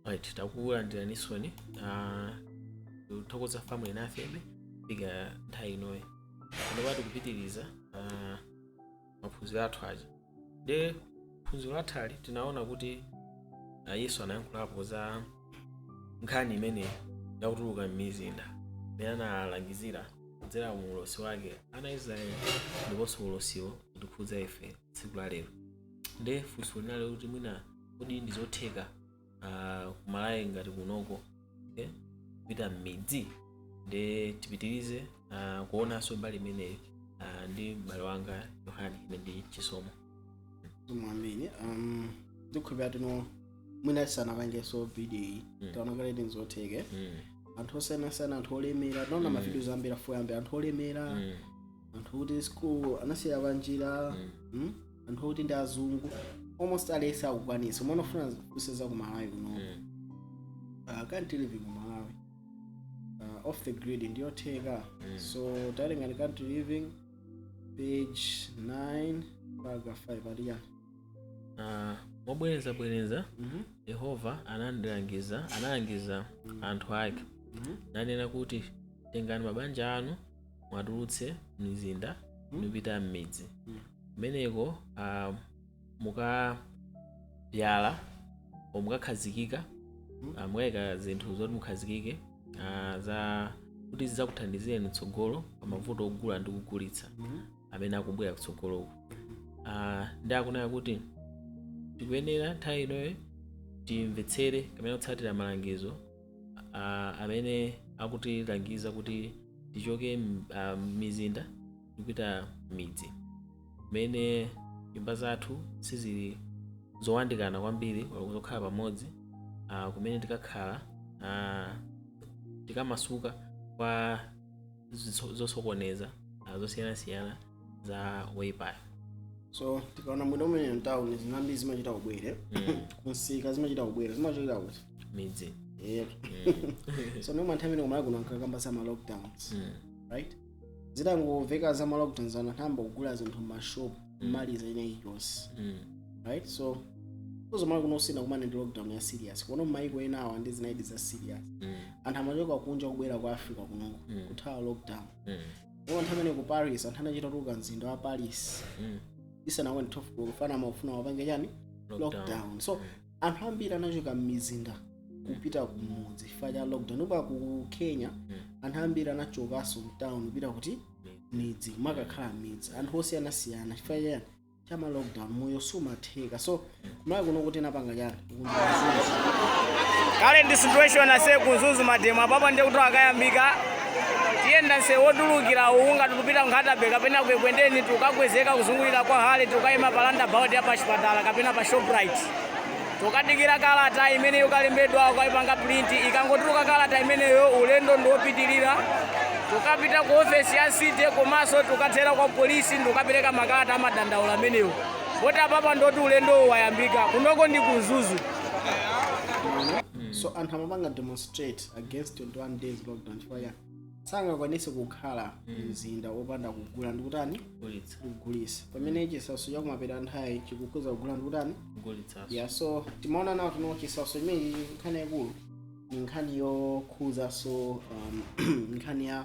right takulandiraninso uh, tikuthokoza pomwe muli nafebe kufika nthawi inoyi panopa tikupitiriza uh, maphunziro athu aja nde phunziro lathali tinaona kuti uh, yesu anayankhulapo za nkhani imene yakutuluka m'mizinda imene analangizira kudzera mu ulosi wake ana israeli ndiponso ulosiwo kutikhudza ife tsiku la lero nde funso linali kuti mwina kodi ndi zotheka ah, ku Malawi ngati kunoko okay? kupita m'midzi nde tipitirize ah, kuonanso mbali imeneyi ah, ndi m'bale wanga yohani ine ndi chisomo amene um, ndikhulupirira kuti ino mwina tisanapangenso video iyi Mm. taona kale ndi zotheke mm. anthu osiyanasiyana anthu olemera taona Mm. mavidiyo zambiri afuya ambiri anthu olemera Mm. anthu oti school anasiya panjira mm? anthu oti ndi azungu almost aliyese akukwanisa nde tikufuna kuonetsa ku malawi kuno uh, country living ku malawi uh, off the grid ndiyotheka so molingana ndi country living page 9 paragraph 5 aliyani Ah, mobwerezabwereza Mhm. yehova anandilangiza analangiza anthu ake nanena kuti tengani mabanja anu muwatulutse m'mizinda Mm. nkupita m'midzi Mm. kumeneko ah, mukabzala o mukakhazikika Mm. ah, mukayika zinthu zoti mukhazikike ah, za kuti zidzakuthandizeni mtsogolo pa mavuto ogula ndi kugulitsa Mhm. amene akubwera kutsogoloku Ah, ndi akunena kuti tikuyenera nthawi inoyo timvetsere kapena kutsatira malangizo a- amene akutilangiza kuti tichoke m- ah, m'mizinda ndikupita m'midzi kumene nyumba zathu sizili zowandikana kwambiri kapena zokhala pamodzi ah, kumene tikakhala ah, tikamasuka kwa zitso- zosokoneza ah, zosiyanasiyana za woipayo so tikaona bwino mmene mtawuni zambiri zimachita kubwera kumsika zimachita kubwera zimachokera kuti m'midzi yeah. so nomwe anthu amene kumalawi kuno ankakamba za ma lockdowns Mm. right zitangomveka za ma lockdowns anthu anayamba kugula zinthu mmashop mmaliza ina iliyonse Mm. right so ku Malawi kuno sitinakumane ndi lockdown ya serious kuno mmayiko ena awa ndi zinalidi za serious Mm. anthu amachoka kunja kubwera ku africa kuno kuthawa lockdown Mm. ndipo nthawi imene ku paris anthu anachita kutuluka mzinda wa paris Mm. isanakwane 12 koloko chifukwa amafuna apange chani Lockdown. lockdown so anthu ambiri anachoka m'mizinda kupita kumudzi chifukwa cha lockdown ndipo ku kenya anthu ambiri anachokanso mtown kupita kuti m'midzi kumakakhala m'midzi anthu osiyanasiyana chifukwa cha cha ma lockdown moyo sumatheka so ku Malawi kuno kuti napanga chani kundizuza kale ndi situation ase ku Mzuzu mademo apapa ndiye kuti akayambika tiyenda nse wotulukira uwu nga tukupita Nkhata Bay kapena kwekwendeni tukagwezeka kuzungulira kwa hale tukayima pa roundabout ya pa chipatala kapena pa shoprite Tukadikira kalata imene yikalembedwa ukaipanga print ikangotuluka kalata imeneyo ulendo ndiopitilira tukapita ku ofesi ya city komanso tukathera kwa polisi ndikukapereka makalata amadandaulo amenewo poti apapa ndoti ulendowo wayambika kunoko ndi ku Mzuzu so anthu amapanga demonstrate against 21 days lockdown chifukwa chani sangakwanise kukhala mzinda opanda kugula ndikutani kugulitsa pamene chisautso chakumapeto a nthawi chikukhuza kugula ndikutani kugulitsa ya so timaona now kuti no chisautso chimene nkhani yaikulu ni nkhani yokhuzanso um, nkhani ya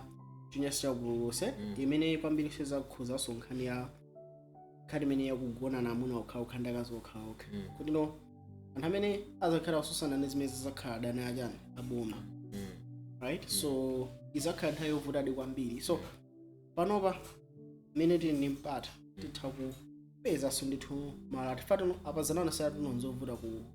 chinyansi chakupululutsa imene pambiri sizakhuzaso nkhani ya nkhani imene yakugonana amuna okhaokha ndi akazi okhaokha Mm. kuti no anthu amene azakhala akususana ndi zimenezi azakhala adani a chani aboma Mm. right so izakhala nthawi yovutadi kwambiri so panopa mmene tili ndi mpata titha kupezanso ndithu ma alternative a pazanana sayatino nzovuta ku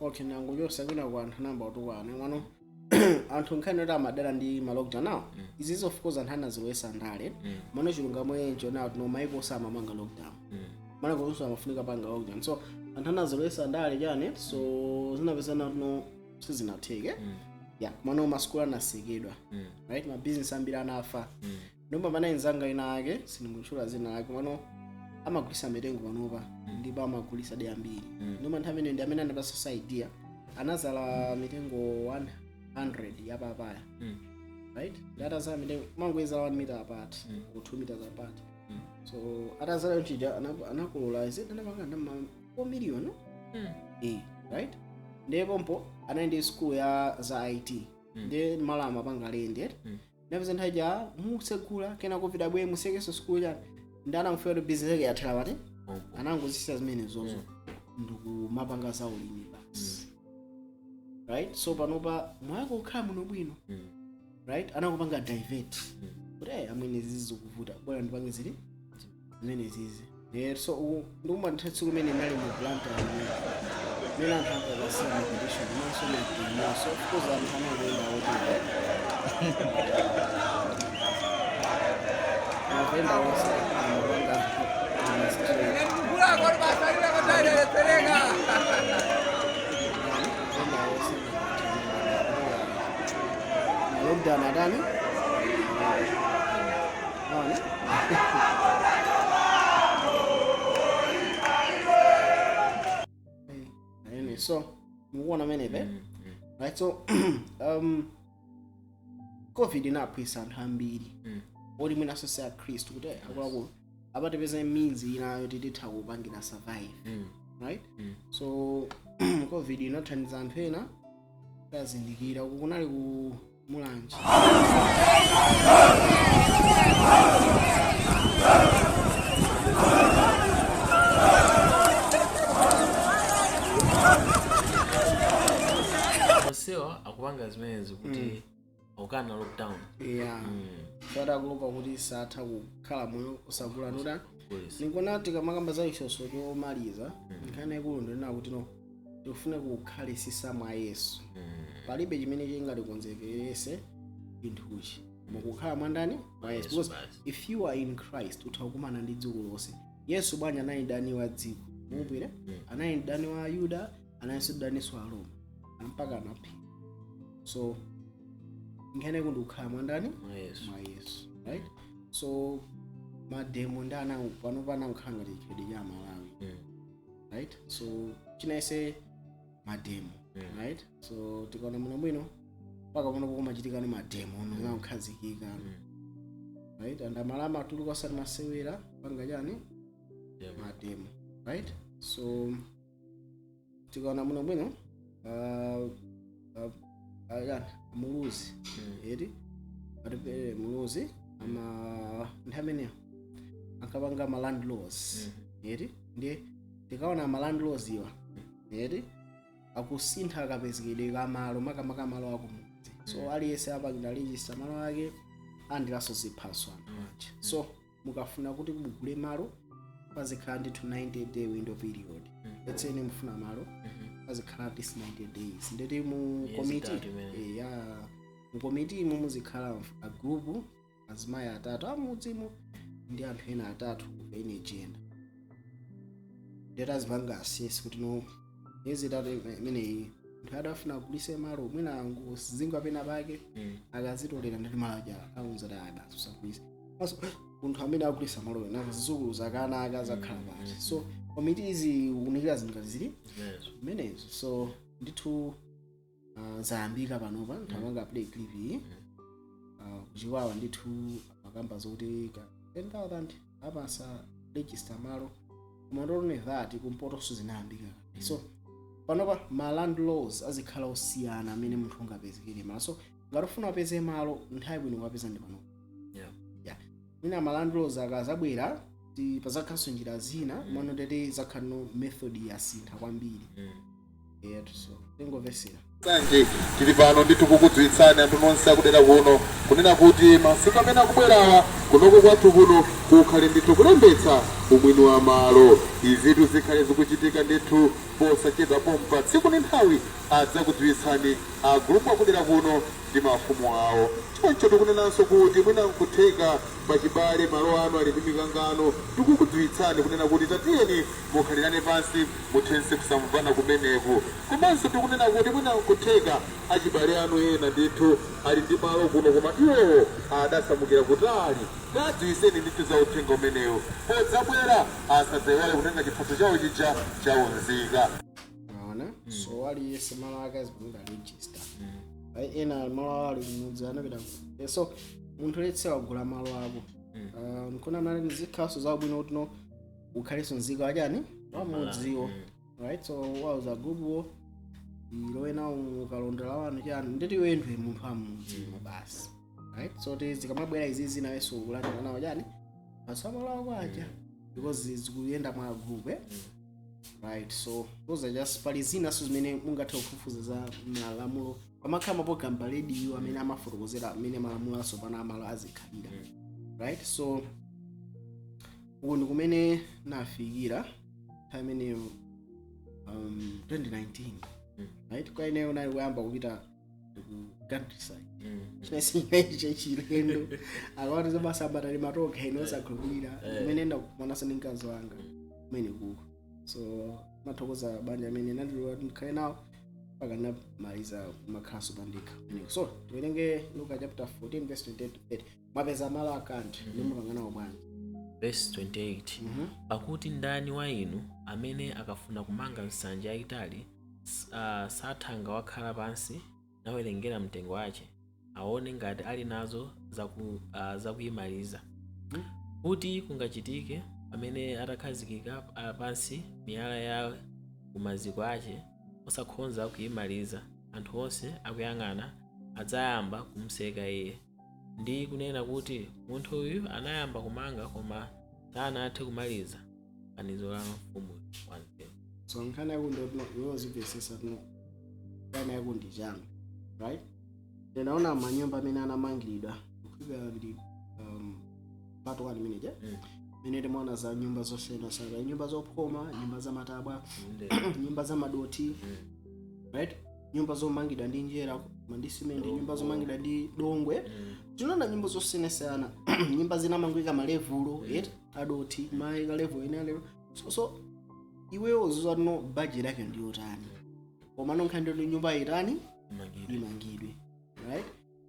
okay nanga uyo kwinaku anthu anayamba kutukwana komano anthu nkhani yoti amadera ndi ma lockdown awo izizi of course anthu anazilowesa ndale komano chilungamo nchonena kuti no maiko onse amapanga lockdown mana kuzusa amafunika panga lockdown so anthu anazilowesa ndale chani so zinapezeka kuti no sizinatheke ya komano masukulu anasekedwa right mabizinesi ambiri anafa Ndiye pana anzanga ina ake sindimutchula zina lake pano amagulisa mitengo panopa ndipo amagulisa de ambiri Mm. noma nthawi imeneyo ndi amene anapasa idea anazala mitengo 100 ya papaya Mm. right ndi atazala mitengo amangoizala 1 meter apart Mm. or 2 meters apart Mm. so atazala yonchija anakolola is it anapanga ndama 4 million no? Mm. eh right ndipo mpo anali ndi school ya za IT Mm. ndiye malo amapanga lendi Mm. ndapeza nthawi ja mutsegula kenako covid yabwera musekenso sukulu chani ndi anaferatu bizinesi yake yathera pati anangozisiya zimene zozo ndikumapanga za ulimi basi right so panopa moyo wake ukukhala bwinobwino right anakupanga divert kuti "Eh, amwene zizi zikuvuta bwanji ndipange zili zimenezizi Eh, so u- ndikumatha tsiku imene ndinali mu Blantyre mmene anthu ankakasiyana condition maso maso kuza anthu anangoenda otile akuenda onse anapanga lockdown adani Anyway, so mukuona mmene pa right so um, covid inaphwitsa anthu ambiri olo mwinanso si akhristu kuti akuluakulu apatipeza means inayo tititha kupangira survive right so covid inathandiza anthu ena kuzindikira uku kunali ku Mulanje. onsewa akupanga zimenezi kuti akukana lockdown Yeah. Mm, Chifukwa akuopa kuti satha kukhala moyo osagula nuda. kulisa. Ndikuona tikamakamba za chisonso chomaliza. Nkhani ikulu ndinena kuti no. tikufuna kukhalitsitsa mwa yesu palibe chimene chingatikonzekerese chinthuchi ndi kukhala mwandani mwa yesu Yesu Because basi. if you are in christ utha kukumana ndi dziko lonse yesu bwanji anali mdani wa dziko mupire anali mdani wa ayuda analinso mdani wa aroma mpaka anaphedwa so nkhani yake ndikukhala mwandani Mwa Yesu. mwa yesu right so mademo ndi amene pano akukhala ngati chikhalidwe cha amalawi Mm. right so chinayisi mademo Yeah. right so tikaona bwinobwino mpaka pano kukumachitika mademo ono akukhazikika right and amalawi amatuluka osati masewera kupanga chani Yeah. mademo right so tikaona bwinobwino uh, ayani muluzi eti atupele muluzi ama nthawi imeneyo ankapanga ma land laws eti ndiye tikaona ma land laws awa eti akusintha kapezekedwe ka malo makamaka malo akumudzi so aliyense apangitse register malo ake alandirenso ziphaso anthu aja so mukafuna kuti mugule malo pazikhala ndithu 90 day window period let's say mufuna malo pazikhala at least 90 days ndiye kuti mu Miyezi komiti itatu imene. eh, ya mu komiti imo muzikhala a group azimayi atatu amudzimo ndi anthu ena atatu a NGO ena ndiye kuti izipanga assess kuti no miyezi itatu ime- imeneyi munthu uja akufuna agulitse malo mwina wangozingwa pena pake Mm. akazitolera ndiye kuti malo aja amuuza kuti ayi basi usagulitse komanso munthu amene akugulitsa malo ana zizukulu za ana ake azakhala pati so komiti iziunikira zinthu ngati zili Zimenezo. zimenezo so ndithu uh, zayambika panopa nthamanga play clip iyi uh, ku Chikwawa ndithu amakamba zokuti ka 10000 apanga register malo koma not only that kumpotoso zinayambika so panopa ma land laws azikhala osiyana amene munthu ungapezekere malo so ngati ufuna upeze malo nthawi yabwino yokapeza ndi panopa Yeah. yeah. mwina ma land laws akazabwera ti- pazakhalanso njira zina mano tete zakhalano method yasintha kwambiri Mm. yetuso tingomvesera sanje tili pano ndithu kukudziwitsani anthu nonse akudera kuno kunena kuti masiku amene akubwerawa kunoko kwathu kuno kukhale ndithu kulembetsa umwini wa malo izitu zikhale zikuchitika ndithu posachedwa pompa tsiku ndi nthawi adzakudziwitsani a gulupu akudera kuno ndi mafumu awo choncho tikunenanso kuti mwina nkutheka pachibale malo anu ali ndi mikangano tikukudziwitsani kunena kuti tatiyeni mukhalirane pansi muthetse kusamvana kumeneku. Komanso ndikunena kuti mwina nkutheka achibale anu ena ndithu ali ndi malo kuno koma iwowo adasamukira kutali. Kawadziwiseni ndithu za uthenga umenewu. Podzabwera asadzaiwale kutenga chiphaso chawo chija cha unzika. Mwaona? So aliyense malo ake azipanga register. Ayi ena ali malo awo ali kumudzi anapita ku- Eh, so munthu let's say wagula malo ako. Ah, Nkuona ngati zikhalaso zabwino kuti no ukhalenso nzika wa chani wa mudziwo right so wauza gulupuwo ulowe nawo mukaundula wanu chani nditi iwe ndiwe munthu wa mudziwo basi right so ti zikamabwera izizi nawenso ukulandira nawo chani masamalawo kwacha because zikuyenda mwa group eh? right so those are just pali zinaso zimene mungathe kufufuza za malamulo pamakhala maprogram pa radio amene amafotokozera mmene malamulo atsopano a malo azikhalira right so uko ndi kumene nafikira nthawi imeneyo um, 2019 Mm. right kwa ineyo nali kuyamba kupita ku countryside Mm. chinasinyaiche chilendo akawati zamasamba tali matoka ine osakhulupirira Eh. kumene ndakumanaso ndi mkazi wanga kumene kuko so ndimathokoza banja amene anandilola ndikhale nawo mpaka ndinamaliza kumakhalaso pandekha so tiwerenge luka chapter 14 verse 28 to 30 mwapeza malo akanthu ndi mukanganawo bwanji verse 28 Mhm. pakuti ndani wa inu amene akafuna kumanga nsanja yayitali s- ah, sathanga wakhala pansi nawerengera mtengo wace aone ngati ali nazo zaku- ah, zakuyimaliza kuti kungachitike pamene atakhazikika ah, pansi miyala ya kumaziko ace osakhonza kuyimaliza anthu onse akuyang'ana adzayamba kumseka iye ndi kunena kuti munthu uyu anayamba kumanga koma sanathe kumaliza fanizo la mfumu wanzeru so nkhani yako ndoti no iwe uziphunzitsa kuti no nkhani yako ndi changa right ndinaona manyumba amene anamangiridwa kufika ndi um, pato wani meneja Mm. mene timaona za nyumba zosiyanasiyana nyumba zophoma nyumba za matabwa Inde. nyumba za madothi Mm. right nyumba zomangidwa ndi njerwa koma ndi simenti nyumba zomangidwa ndi dongo tinaona nyumba zosiyanasiyana nyumba zinamangika malevulo a dothi mayika level ina lero so, so iweyo uzidziwa kuti no budget yake ndi yotani komano nkhani ndi nyumba itani imangidwe right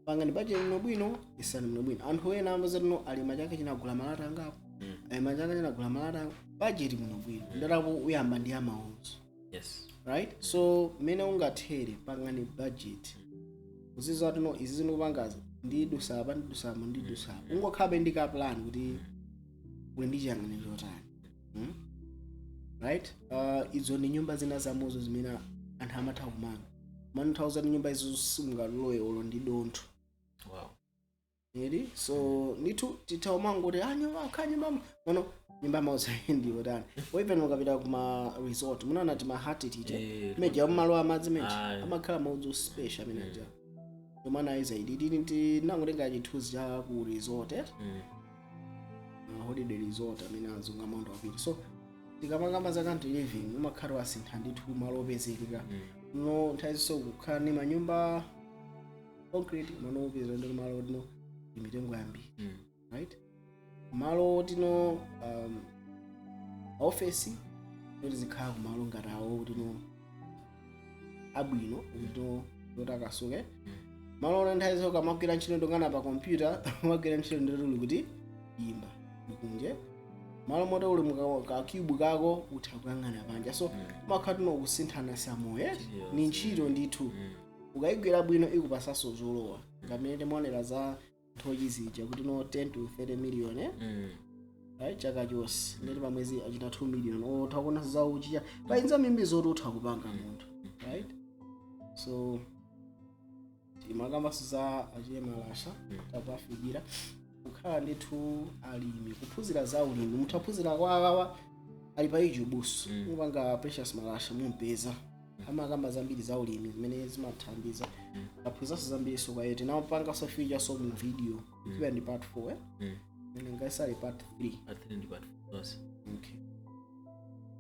pangani bajeti bwino bwino ikani bwino bwino anthu ena amati no ali m'chaka chino agula malata angapo Mm. ali m'chaka chino agula malata angapo bajeti bwino bwino ndalama uyamba ndi amount yes right so mmene ungathere pangani budget uzidziwa kuti no izi ndikupangazi ndidutsa apa ndidutsa apa ndidutsa apa ungokhalabe ndi ka plan kuti uli ndi chiyang'aniro chotani Hmm? right uh, izo ndi nyumba zina mwazo zimene anthu amatha kumanga amanthauza nyumba izo simungalowe olo ndi dontho wow eti so ndithu titaumangoti a nyumba akhanye mama ono nyumba maudzu ndi otani oipena ukapita kuma resort mumaona timahati tija Eh, amene aja amalowa madzi amene aja Ayi. amakhala maudzu a special amene aja tomana ayi zaidi tinangotenga chithunzi cha ku resort eh? mm. holiday resort amene azunga maudzu wapita so tikamakamba za country living umakhala wasintha ndithu malo opezekeka nthawi zinanso kukhala ndi manyumba concrete umangopeza ndi malo oti no ndi mitengo yambiri right malo oti no um, ofesi kuti zikhala kumalo ngati awo oti no abwino otakasuka malo oti nthawi zonse ukamagwira ntchito ndi kuyang'ana pa kompyuta umagwira ntchito ndithu uli kutiyimba ndi kunja malo oti uli mukakyubu kako utha kuyang'ana panja so umakhala kuti no kusinthana za moyo Yes. ni ntchito ndithu ukayigwira bwino ikupatsanso zolowa monga mmene timaonera za nthochi zija kuti no 10 to 30 million eh? Mm. right chaka chonse ndiye kuti pamwezi achita 2 million utha kuonanso za uchi pali zambiri zoti utha kupanga munthu right so timakambanso za achina malasha kukawafikira kukhala ndithu alimi kuphunzira za ulimi mutha kuphunzira kwa awowa ali pa YouTube so mukapanga Precious Malasha mumpeza amakamba zambiri za ulimi zimene zimathandiza aphunziranso zambiri so kwawo tinawapanganso featurenso mu video ikiwa ndi part 4 eh? Mm. Ine ngati siili part 3 then ndi part zonse okay.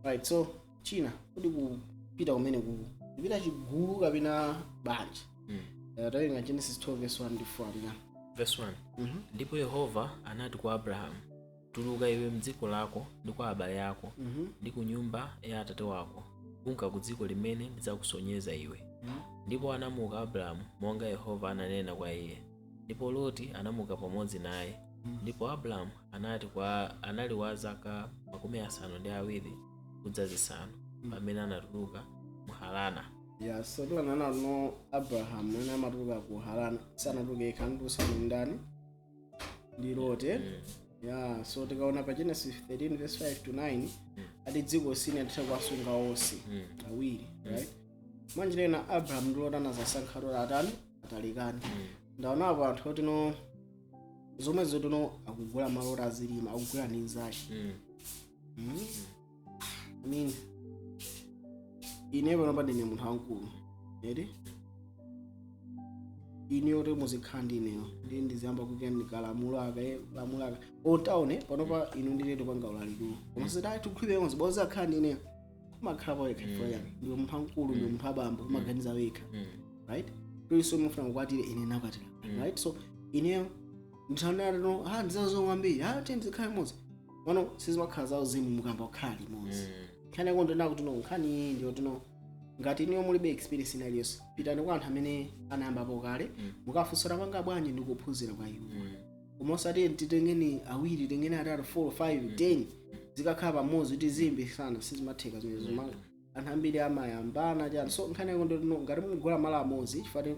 right so china kuti kupita kumeneku kupita chigulu kapena banja Mm. Eh, tawerenga genesis 12 verse 1 ndi 4 alina verse 1 Mhm. ndipo yehova anati kwa abrahamu Tuluka iwe m'dziko lako ndi kwa abale ako Mhm. ndi ku nyumba ya atate wako kunka ku dziko limene ndidzakusonyeza iwe ndipo anamuka abrahamu monga yehova ananena kwa iye ndipo loti anamuka pamodzi naye ndipo abrahamu anati kwa anali wa zaka makumi asanu ndi awiri kudza zisanu pamene anatuluka mu harana ya so tikuona kuti no abrahamu mmene amatuluka ku harana sanatuluke yekhatu anali ndi ndani ndi loti ya so tikaona pa genesis 13 verse 5 to 9 ati dziko silinathe kuwasunga onse awiri right mwanjira ina abrahamu ndi loti anasankha zoti atani atalikane ndaonapo anthu oti no zomwezo oti no akugula malo oti azilima akugula ndi nzake Mm. I mean, ine panopa ndine munthu wamkulu eti ine oti muzikhala ndi ineyo ndiye ndiziyamba kukanika lamulo aka eh, lamulo aka taonani panopa inu ndi ine tikupanga ulalikiwu koma zidali tikhulire yonse bonse akhala ndi ineyo umakhala pawekha chifukwa chani ndiwe munthu wamkulu ndiwe munthu wabambo umaganiza wekha Mm. right tuliso mufuna kukwatira ine nakwatira right so ineyo ndithanatano ha ndizazongwa mbiri ha tiyeni tizikhala limodzi komano sizimakhala za uzimu mukayamba kukhala limodzi nkhani yake ndi yonena kuti no nkhani iyi ndi yoti no ngati inuyo mulibe experience ina iliyonse pitani kwa anthu amene anayambapo kale Mm. mukafunse akupanga bwanji ndi kuphunzira kwa iwo koma osati titengane awiri titengane atatu 4 5 10 tizikakhala pamodzi kuti tizilimbitsana sizimatheka zimenezo anthu ambiri amayambana chani so nkhani yake ndi yoti no ngati mugula malo amodzi chifukwa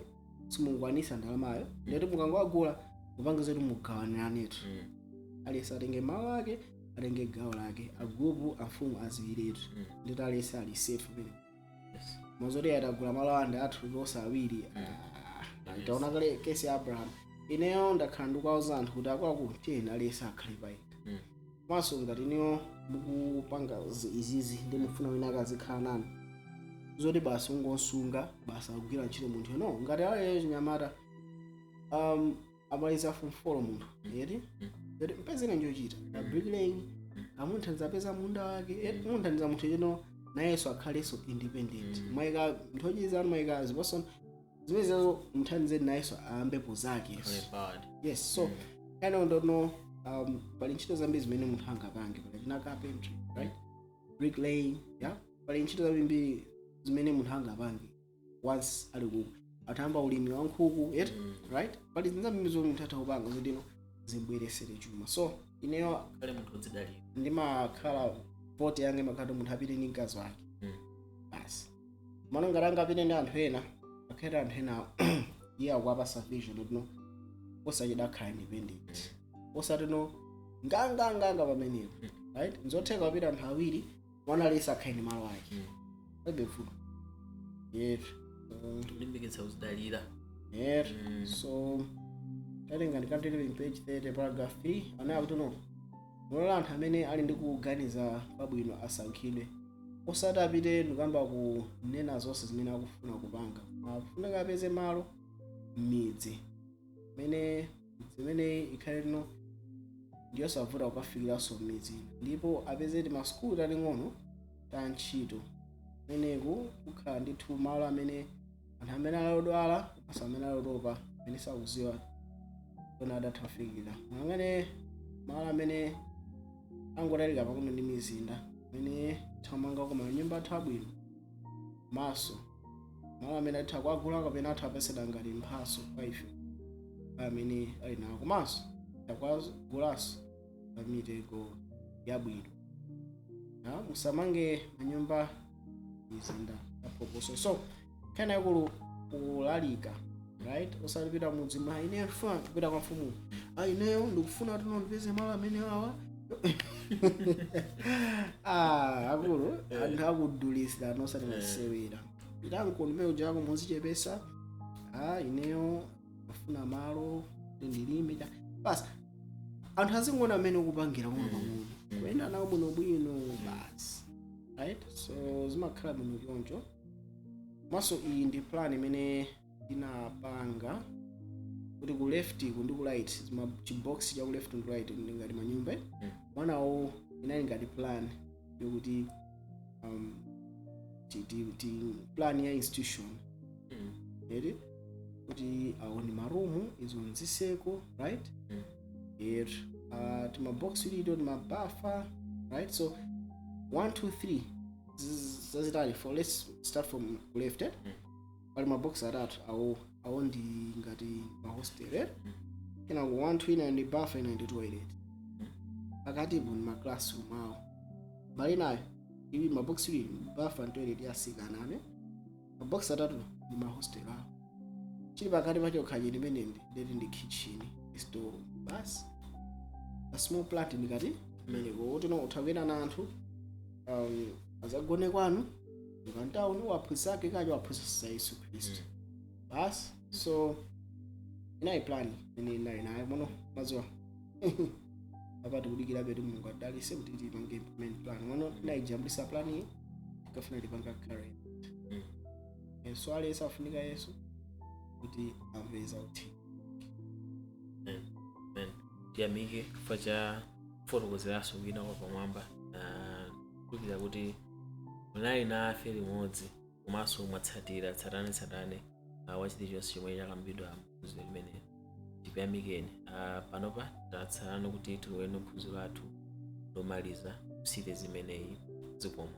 simungwanisa ndalamayo ndiye kuti mukangowagula mupange zakuti mugawaniranetu Mm. aliyense atenge malo ake atenge gawo lake agulupu amfumu adziwiretu Mm. ndiye kuti aliyense ali safe pamenepo Yes. koma zoti ah tagula malo awa ndi athu tonse awiri Mm. Ah, taona kale case ya abraham ineyo ndakhala ndikuwauza anthu kuti akuluakulu tiyeni aliyense akhale paye Mm. komanso ngati inuyo mukupanga zi- izizi ndiye mufuna wina akazikhala nanu zoti basi mungomusunga basi akugwira ntchito munthu no ngati ali wachinyamata um, amaliza form four munthu eti eti mpezereni chochita a bricklaying mumuthandize apeze munda wake eti muthandize munthu kuti no nayenso akhalenso independent maika nthochi zanu maika ziposo zimenezo muthandize nayenso ayambepo zake Very bad. yes so kind of don't know um, pali ntchito zambiri zimene munthu angapange pali china carpentry right brick laying yeah pali ntchito zambiri zimene munthu angapange once ali kwathaba ulimi wa nkhuku yet right pali zinthu zambiri zomwe munthu atha kupanga zotino zimbweresere chuma so ineyo kukhala munthu odzidalira. ndimakhala vote yanga imakhala munthu apite ndi mkazi wake Mm. basi mwina ngati angapite ndi anthu ena akhale anthu ena iye akuwapasa vision kuti no osachita kukhala independent osati no nganganganga pamenepo right nzotheka kupita anthu awiri mwana aliyese akhale ndi malo ake palibe vuto yetu Mm, kulimbikitsa kudzidalira yetu Mm. so tatenga ndikateleling page 30 paragraph 3 anena kuti no mulole anthu amene ali ndi kuganiza kwabwino asankhidwe osati apite ndikuyamba kunena zonse zimene akufuna kupanga akufunika apeze malo m'midzi imene midzi imeneyi ikhale yotino ndiyosavuta kukafikiranso m'midzi ndipo apeze timasukulu taling'ono ta ntchito kumeneku kukhala ndithu malo amene anthu amene ali odwala komanso amene ali otopa amene sakuziwa koona adatha kufikira amene malo amene angotalikira pang'ono ndi mizinda amene atha kumanga manyumba athu abwino komanso malo amene atha kuagula kapena atha kupatsidwa ngati mphaso kwa ife ndi amene ali nawo komanso atha kuagulaso pa mitengo yabwino musamange manyumba m'mizinda yaphokoso so nkhani yakulu kulalika right osati kupita m'mudzi ma ineyo ndifuna kupita kwa mfumu a ineyo ndikufuna kuti ndipeze malo amene wawa ah akulu anthu akudulira nosati masewera pitanko ndi mmene ujako muzichepesa ah ineyo ndikufuna malo kuti ndilime cha basi anthu azingoona mmene ukupangira koma pang'ono kuyenda nawo bwinobwino basi right so zimakhala bwino choncho komanso iyi ndi plan imene ndinapanga kuti ku left ku ndi ku right ma- chibox cha ku left ndi ku right ndi ngati manyumba mwaonawo inali ngati plan yokuti um, ti, ti, ti plan ya institution Mm. eri kuti aone marumu izo nziseko right Mm. er uh, timabox ilido timabafa right so 1 2 3 zazitali for let's start from left eh? Mm. pali mabox atatu awo awo ndi ngati mahostel eh? kenako 1 ina ndi bafa ina ndi toilet pakatipo ndi maclassroom awo mbali inayo ili mabox ili bafa ndi toilet ya asikana ane mabox atatu ndi mahostel awo chili pakati pa chokhacho chimene ndikuti ndi kitchen store basi a small plan ndikati kumeneko utino utha kuyenda na anthu um, azikagona kwanu Ukantao ni waphunzitsi ake kacho waphunzitsa Yesu Kristu. Basi so inayi plan ine inayi naye muno mazuwa. Apa tikudikira kuti Mulungu adalise kuti tipange implement plan. Muno tinayijambulitsa plan iyi tikafuna tipanga carry. Mm. Yesu alesa afunika Yesu kuti anzawo tiyamike chifukwa cha kufotokozeranso kwina kwapamwamba na kukhulupirira kuti munali nafe limodzi komanso mwatsatira tsatane tsatane uh, wa chilichonse chomwe chakambidwa mphunziro limeneli tikuyamikeni uh, panopa tatsalano kuti tilowe mphunziro lathu lomaliza mu series imeneyi zikomo